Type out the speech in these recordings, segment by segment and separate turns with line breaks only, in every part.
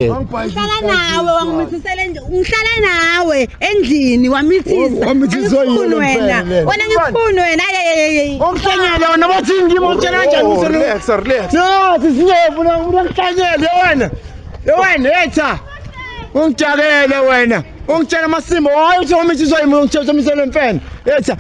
ngihlala nawe wangimithisela ngihlala nawe endlini wamithisa wamithiswa yini wena wena ngifuni wena okuhlanyele
wena bathi ngimo utshela kanjani oh, relax relax
no sisinyevu
no umuntu okuhlanyele wena wena yetha ungijakele wena ungitshela amasimo wayo uthi wamithiswa yimi ungitshela uthi wamisele mfene yetha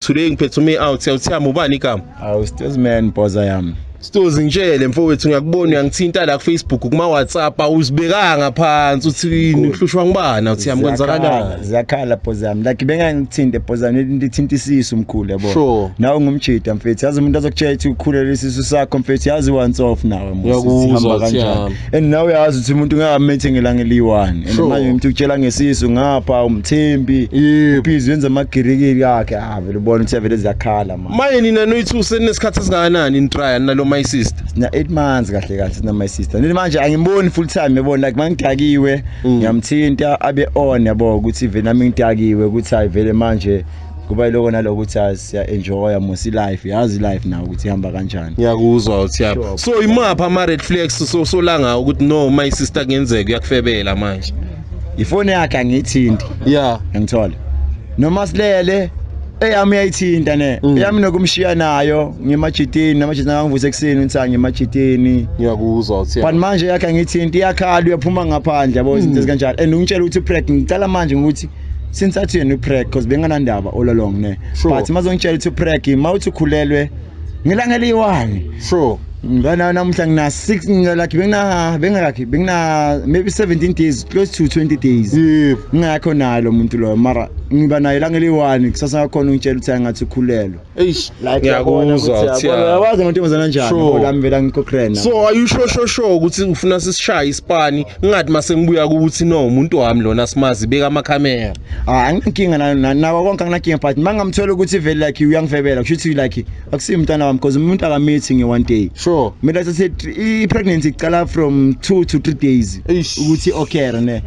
Today ngiphethe ume out siyawuthiyama ubani igama? Awu Stozi man
bhoza yami. Stozi ngitshele
mfowethu ngiyakubona uyangithinta la ku Facebook kuma WhatsApp awuzibekanga phansi uthini uhlushwa ngibani awuthiyama kwenzakalani? Ziyakhala bhoza yami
like bengangithinte bhoza yami ndithinta isisu mkhulu yabo. Sure. Nawe ngumjita
mfethu
yazi umuntu azokutshela ukuthi ukhulele isisu sakho mfethu yazi once off nawe mfethu. Uyakuzwa kanjani?
and nawe uyazi ukuthi
umuntu ungamethi ngelanga eliyi-one and manje umuntu ukutshela ngesisu ngapha umthembi uphizi wenza amagirikiri akhe ah vele ubona ukuthi avele ziyakhala manje manje nina noyi-two
seninesikhathi esingakanani nitrya nina lo my sister sina-eight months
kahle kahle sina my sister nini manje angimboni full time yabona like mangidakiwe mm. ngiyamthinta abe on yabo ukuthi vele nami ngidakiwe ukuthi hayi vele manje kuba yiloko naloko ukuthi siya enjoya musi life yazi life nawo ukuthi ihamba kanjani ngiyakuzwa uthi yaba
so imapha ama red flags so solanga ukuthi no my sister kuyenzeka uyakufebela manje ifone yakhe
angithinti yeah ngithola noma silele eyami uyayithinta ne mm. eyami nokumshiya nayo ngimajitini namajitini angangivusa ekuseni ngithi ngimajitini ngiyakuzwa uthi
but manje yakhe angithinti
iyakhala uyaphuma ngaphandle yabo izinto mm. ezikanjalo and ungitshela ukuthi preg ngicela manje ukuthi since athi yena upreg because benganandaba all along ne sure. but mazongitshela ukuthi upreg ma uthi ukhulelwe ngelanga eliyi-one sure
ngana namuhla
ngina 6 ngilakhe bengina bengakakhe bengina maybe 17 days close to 20 days ngingakho naye lo muntu loyo mara ngiba naye la ngeliwani kusasa ngakhona ungitshela ukuthi angathi ukhulelwa Eish, like ngiyakuzwa
ukuthi yabazi amantombazana anjani
ngoba ngivela ngikokrena. So are you sure sure
sure ukuthi ufuna sisishaya isipani ngathi mase ngibuya ukuthi no umuntu wami lona simazi beka ama camera. Ah anginkinga
nana nawo konke anginakinga but mangamthola ukuthi vele like uyangifebela kusho ukuthi like akusiyi umntana wami because umuntu akamithi nge one day. Sure. Mina sathi
i
pregnancy iqala from 2 to 3 days ukuthi okay ne.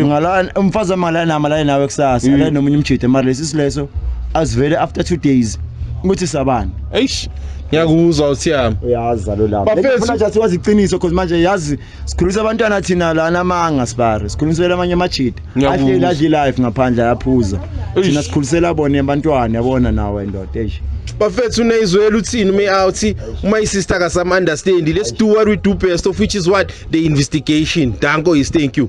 Ngala umfazi wami la nama la nawe kusasa la nomunye umjithe mara lesi sileso azivele after 2 days ukuthi sabani eish ngiyakuzwa
uthiyami uyazi zalo lapho
ngifuna nje siwazi iqiniso because manje yazi sikhulisa abantwana thina lana amanga sibari sikhulisela amanye amajita adle adle life ngaphandle ayaphuza thina sikhulisela bona abantwana yabona nawe ndoda eish bafethu
unezwela uthini ume out uma isister ka some understand let's do what we do best of which is what the investigation danko is thank you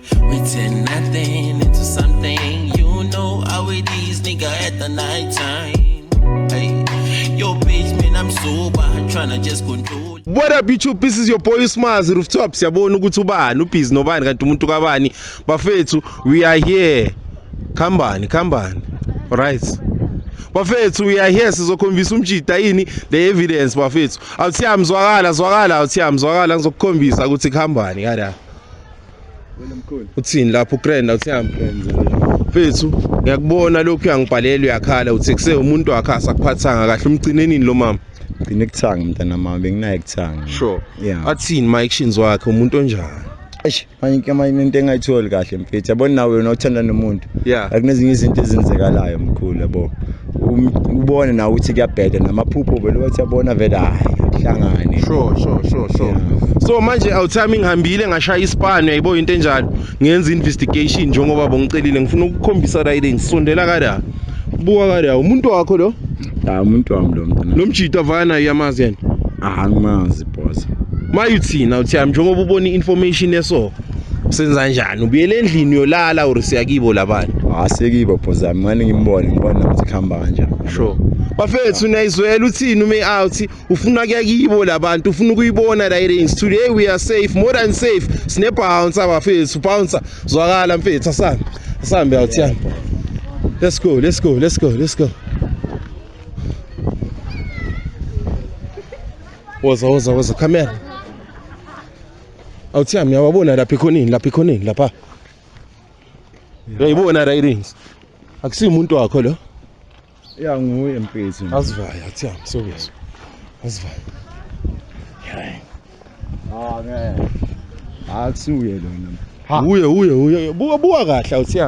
We turn nothing into something. You know how it is, nigga, at the night time. Hey, yo, bitch, man, I'm sober. Trying to just control. What up YouTube this
is your boy Smazi Rooftop siyabona ukuthi ubani ubhizi nobani kanti umuntu kabani bafethu we are here khambani khambani right bafethu we are here sizokhombisa umjida yini the evidence bafethu awuthiya mzwakala zwakala awuthiya mzwakala ngizokukhombisa ukuthi khambani kada uthini lapho ukrenda uthiyami mfethu ngiyakubona lokhu uyangibhalela uyakhala uthi kuse umuntu wakhe asakuphathanga kahle umgcinenini lo mama gcine kuthanga mntana
mama benginaye kuthanga sure yeah
athini my actions wakhe umuntu onjani eish manje
manje into engayitholi kahle mfethu yabona nawe wena uthanda nomuntu yeah akunezinye izinto ezenzekalayo mkhulu yabo Um, ubone nawe ukuthi kuyabheda namaphupho vele wathi yabona vele hayi kuhlangane sure sure sure sure
yeah. so manje awuthami ngihambile ngashaya ispan yayibo into enjalo ngenza investigation njengoba bongicelile ngifuna ukukhombisa right ngisondela kada buka kada umuntu wakho lo ha umuntu wami lo mntana
lo mjita
vana
yamazi
yena
ah
ngimazi
boss
mayuthina uthi yami njengoba ubona i-information eso senza njani ubuyele endlini uyolala or siyakibo labani ah sekibo bhozami
ngani ngimbone ngibona ukuthi khamba kanjani sure
bafethu nayizwela uthini ume out ufuna kuya kibo labantu ufuna ukuyibona la range today we are safe more than safe sine bouncer bafethu bouncer zwakala mfethu asambe asambe out yami let's go let's go let's go let's go woza woza woza camera awuthiya ngiyawabona lapha ekhoneni lapha ekhoneni lapha uyayibona rirings akusiyi umuntu wakho lo ya
nguye mpezi asivayo athiya
msokuzwa asivayo ah
ngeke akusuye lona uye uye uye buka
buka kahle awuthiya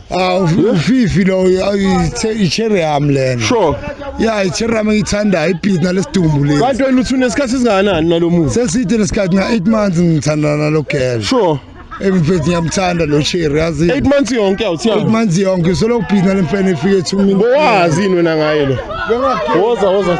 awu ufifi
lo i-cherry yam lena sure ya
i-cherry yam
engiyithandayo ibhizi nalesidumbu lesi kanti wena uthi unesikhathi
esingakanani nalo muntu seside lesikhathi nga-eight
months ngithandana nalo girl sure
emfethi ngiyamthanda
lo cherry yazi 8 months yonke awuthiya
8 months yonke solo
ubhina lemfene efike ethumini bowazi yini wena ngaye
lo woza woza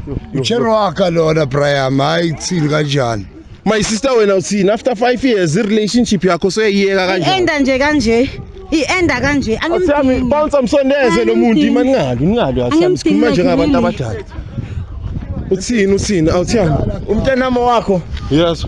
Cherwaka lona Brian hayi kuthini kanjani My sister wena
uthini after 5 years i relationship yakho soyiyeka kanjani Enda nje kanje
ienda kanje angimdingi bounce
amsondeze lo muntu imani ngalo ngalo asami sikhuluma njengabantu abadala uthini uthini awuthiyani umntanami wakho
yes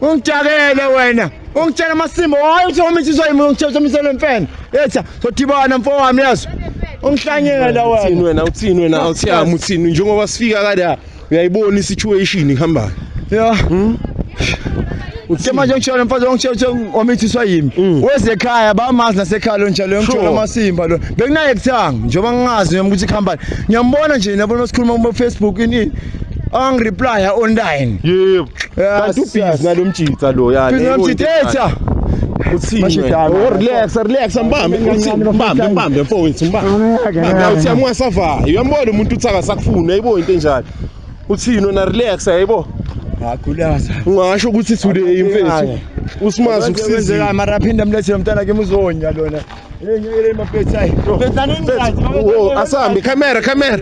ungijakele wena ungitshela amasimbo hayi uthi wami insizwa yimi ungitshela umsele wemfene etha sodibana mfo wami yazi ungihlanyela wena uthini wena uthini
wena awuthiyami uthini njengoba sifika kade uyayibona isituation ihambayo ya
hmm? uthe manje ngishona mfazi ongitshela ukuthi omithiswa yimi mm. weze ekhaya bamazi nasekhaya lo njalo ngithola amasimba lo bekunaye kuthanga njengoba ngingazi noma ukuthi ikhambani ngiyambona nje nabona sikhuluma kuma Facebook ini angireplya online yebo
kanti ubhizi nalomjitha lo yani Busy nomjitha
Oh,
relax relax mbambe mbambe mbambe mfowethu mbambe uthi amwasavayo uyambona umuntu uthi akasakufuni ayibo into enjalo uthini ona relax ayibo ngagulaza
ungasho ukuthi
today mfethu usimazi ukusizeka mara aphinde amlethe
lomntana ke muzonya lona
asahambe camera camera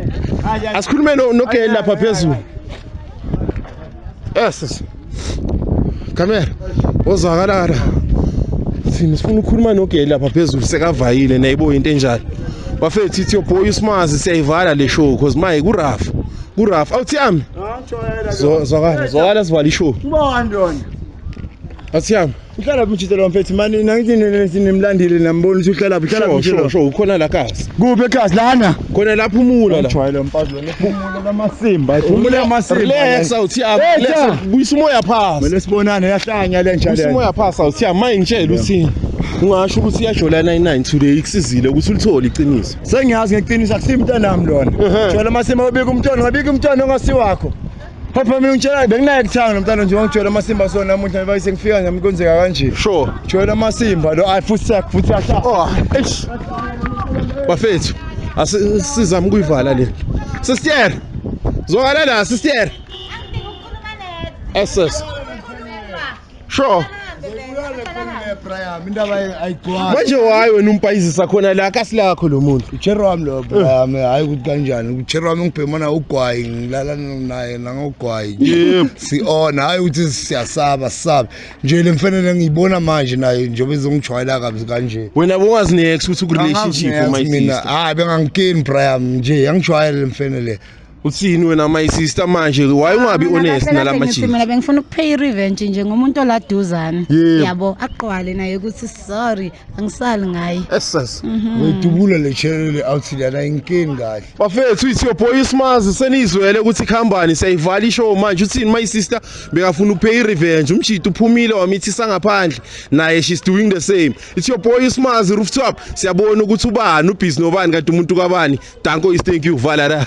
asikhulume nogeli lapha phezulu yes camera ozakalala thina sifuna ukukhuluma nogeli lapha phezulu sekavayile nayibo into enjalo bafethu ithi yoboy usimazi siyayivala le show cause maye kurafu kurafu awuthi ami zwakala zwakala sivala ishow Asiyami. Uhlala phi mjita lo mfethu
mani nangithi nimlandile nambona ukuthi uhlala phi uhlala phi lo. Sho ukhona la kasi.
Kuphi ekhasi lana?
Khona la phumula
la. Ujwayele mfazi wena
phumula lamasimba. Phumula amasimba. Relax awuthiyami.
Relax buyisa umoya phansi. Mele sibonane yahlanya
le nja le. Buyisa umoya phansi awuthiyami
manje ngitshela uthini. ungasho ukuthi iyajola 99 today ikusizile ukuthi ulithole iqiniso sengiyazi ngeqiniso
akusimntanami lona jola masema ubika umntwana ngabika umntwana ongasiwakho Papa mina ngitshela benginaye kuthanga nomntana nje wangitshela amasimba so namuhla ngiba sengifika nje mkonzeka kanje. Sure. Ngitshela
amasimba lo
afuthi futhi asha. Oh, eish.
Bafethu, asizama ukuyivala le. Sister. Zokala la sister. SS. sure manje wayi wena umpayizisa khona la kasilakho lo muntu uchero wami lo brian
hhayi ukuthi kanjani uchero wami ngibhemana ugwayi ngilala naye nangogwayi Yebo.
si-ona hhayi ukuthi
siyasaba sisabe nje le mfanele ngiyibona manje naye njengoba izongijwayela kabi kanje wena bongazi nex
ukuthi ukurelationship Angazi mina umayisisa hayi bengangikeni
brian nje yangijwayele le mfene le uthini wena
my sister manje why ungabi honest nalamajini mina bengifuna ukupay
irevenge nje ngomuntu oladuzane yabo aqwale naye ukuthi sorry angisali ngaye essence mhm.
wedubula le
channel le outfit yana inkinga kahle bafethu ithi your boy
smazi senizwele ukuthi khambani siyayivala ishow manje uthini my sister bekafuna ukupay irevenge umjita uphumile wamithisa ngaphandle naye she's doing the same it's your boy smazi rooftop siyabona ukuthi ubani ubhizi nobani kanti umuntu kabani danko is thank you valara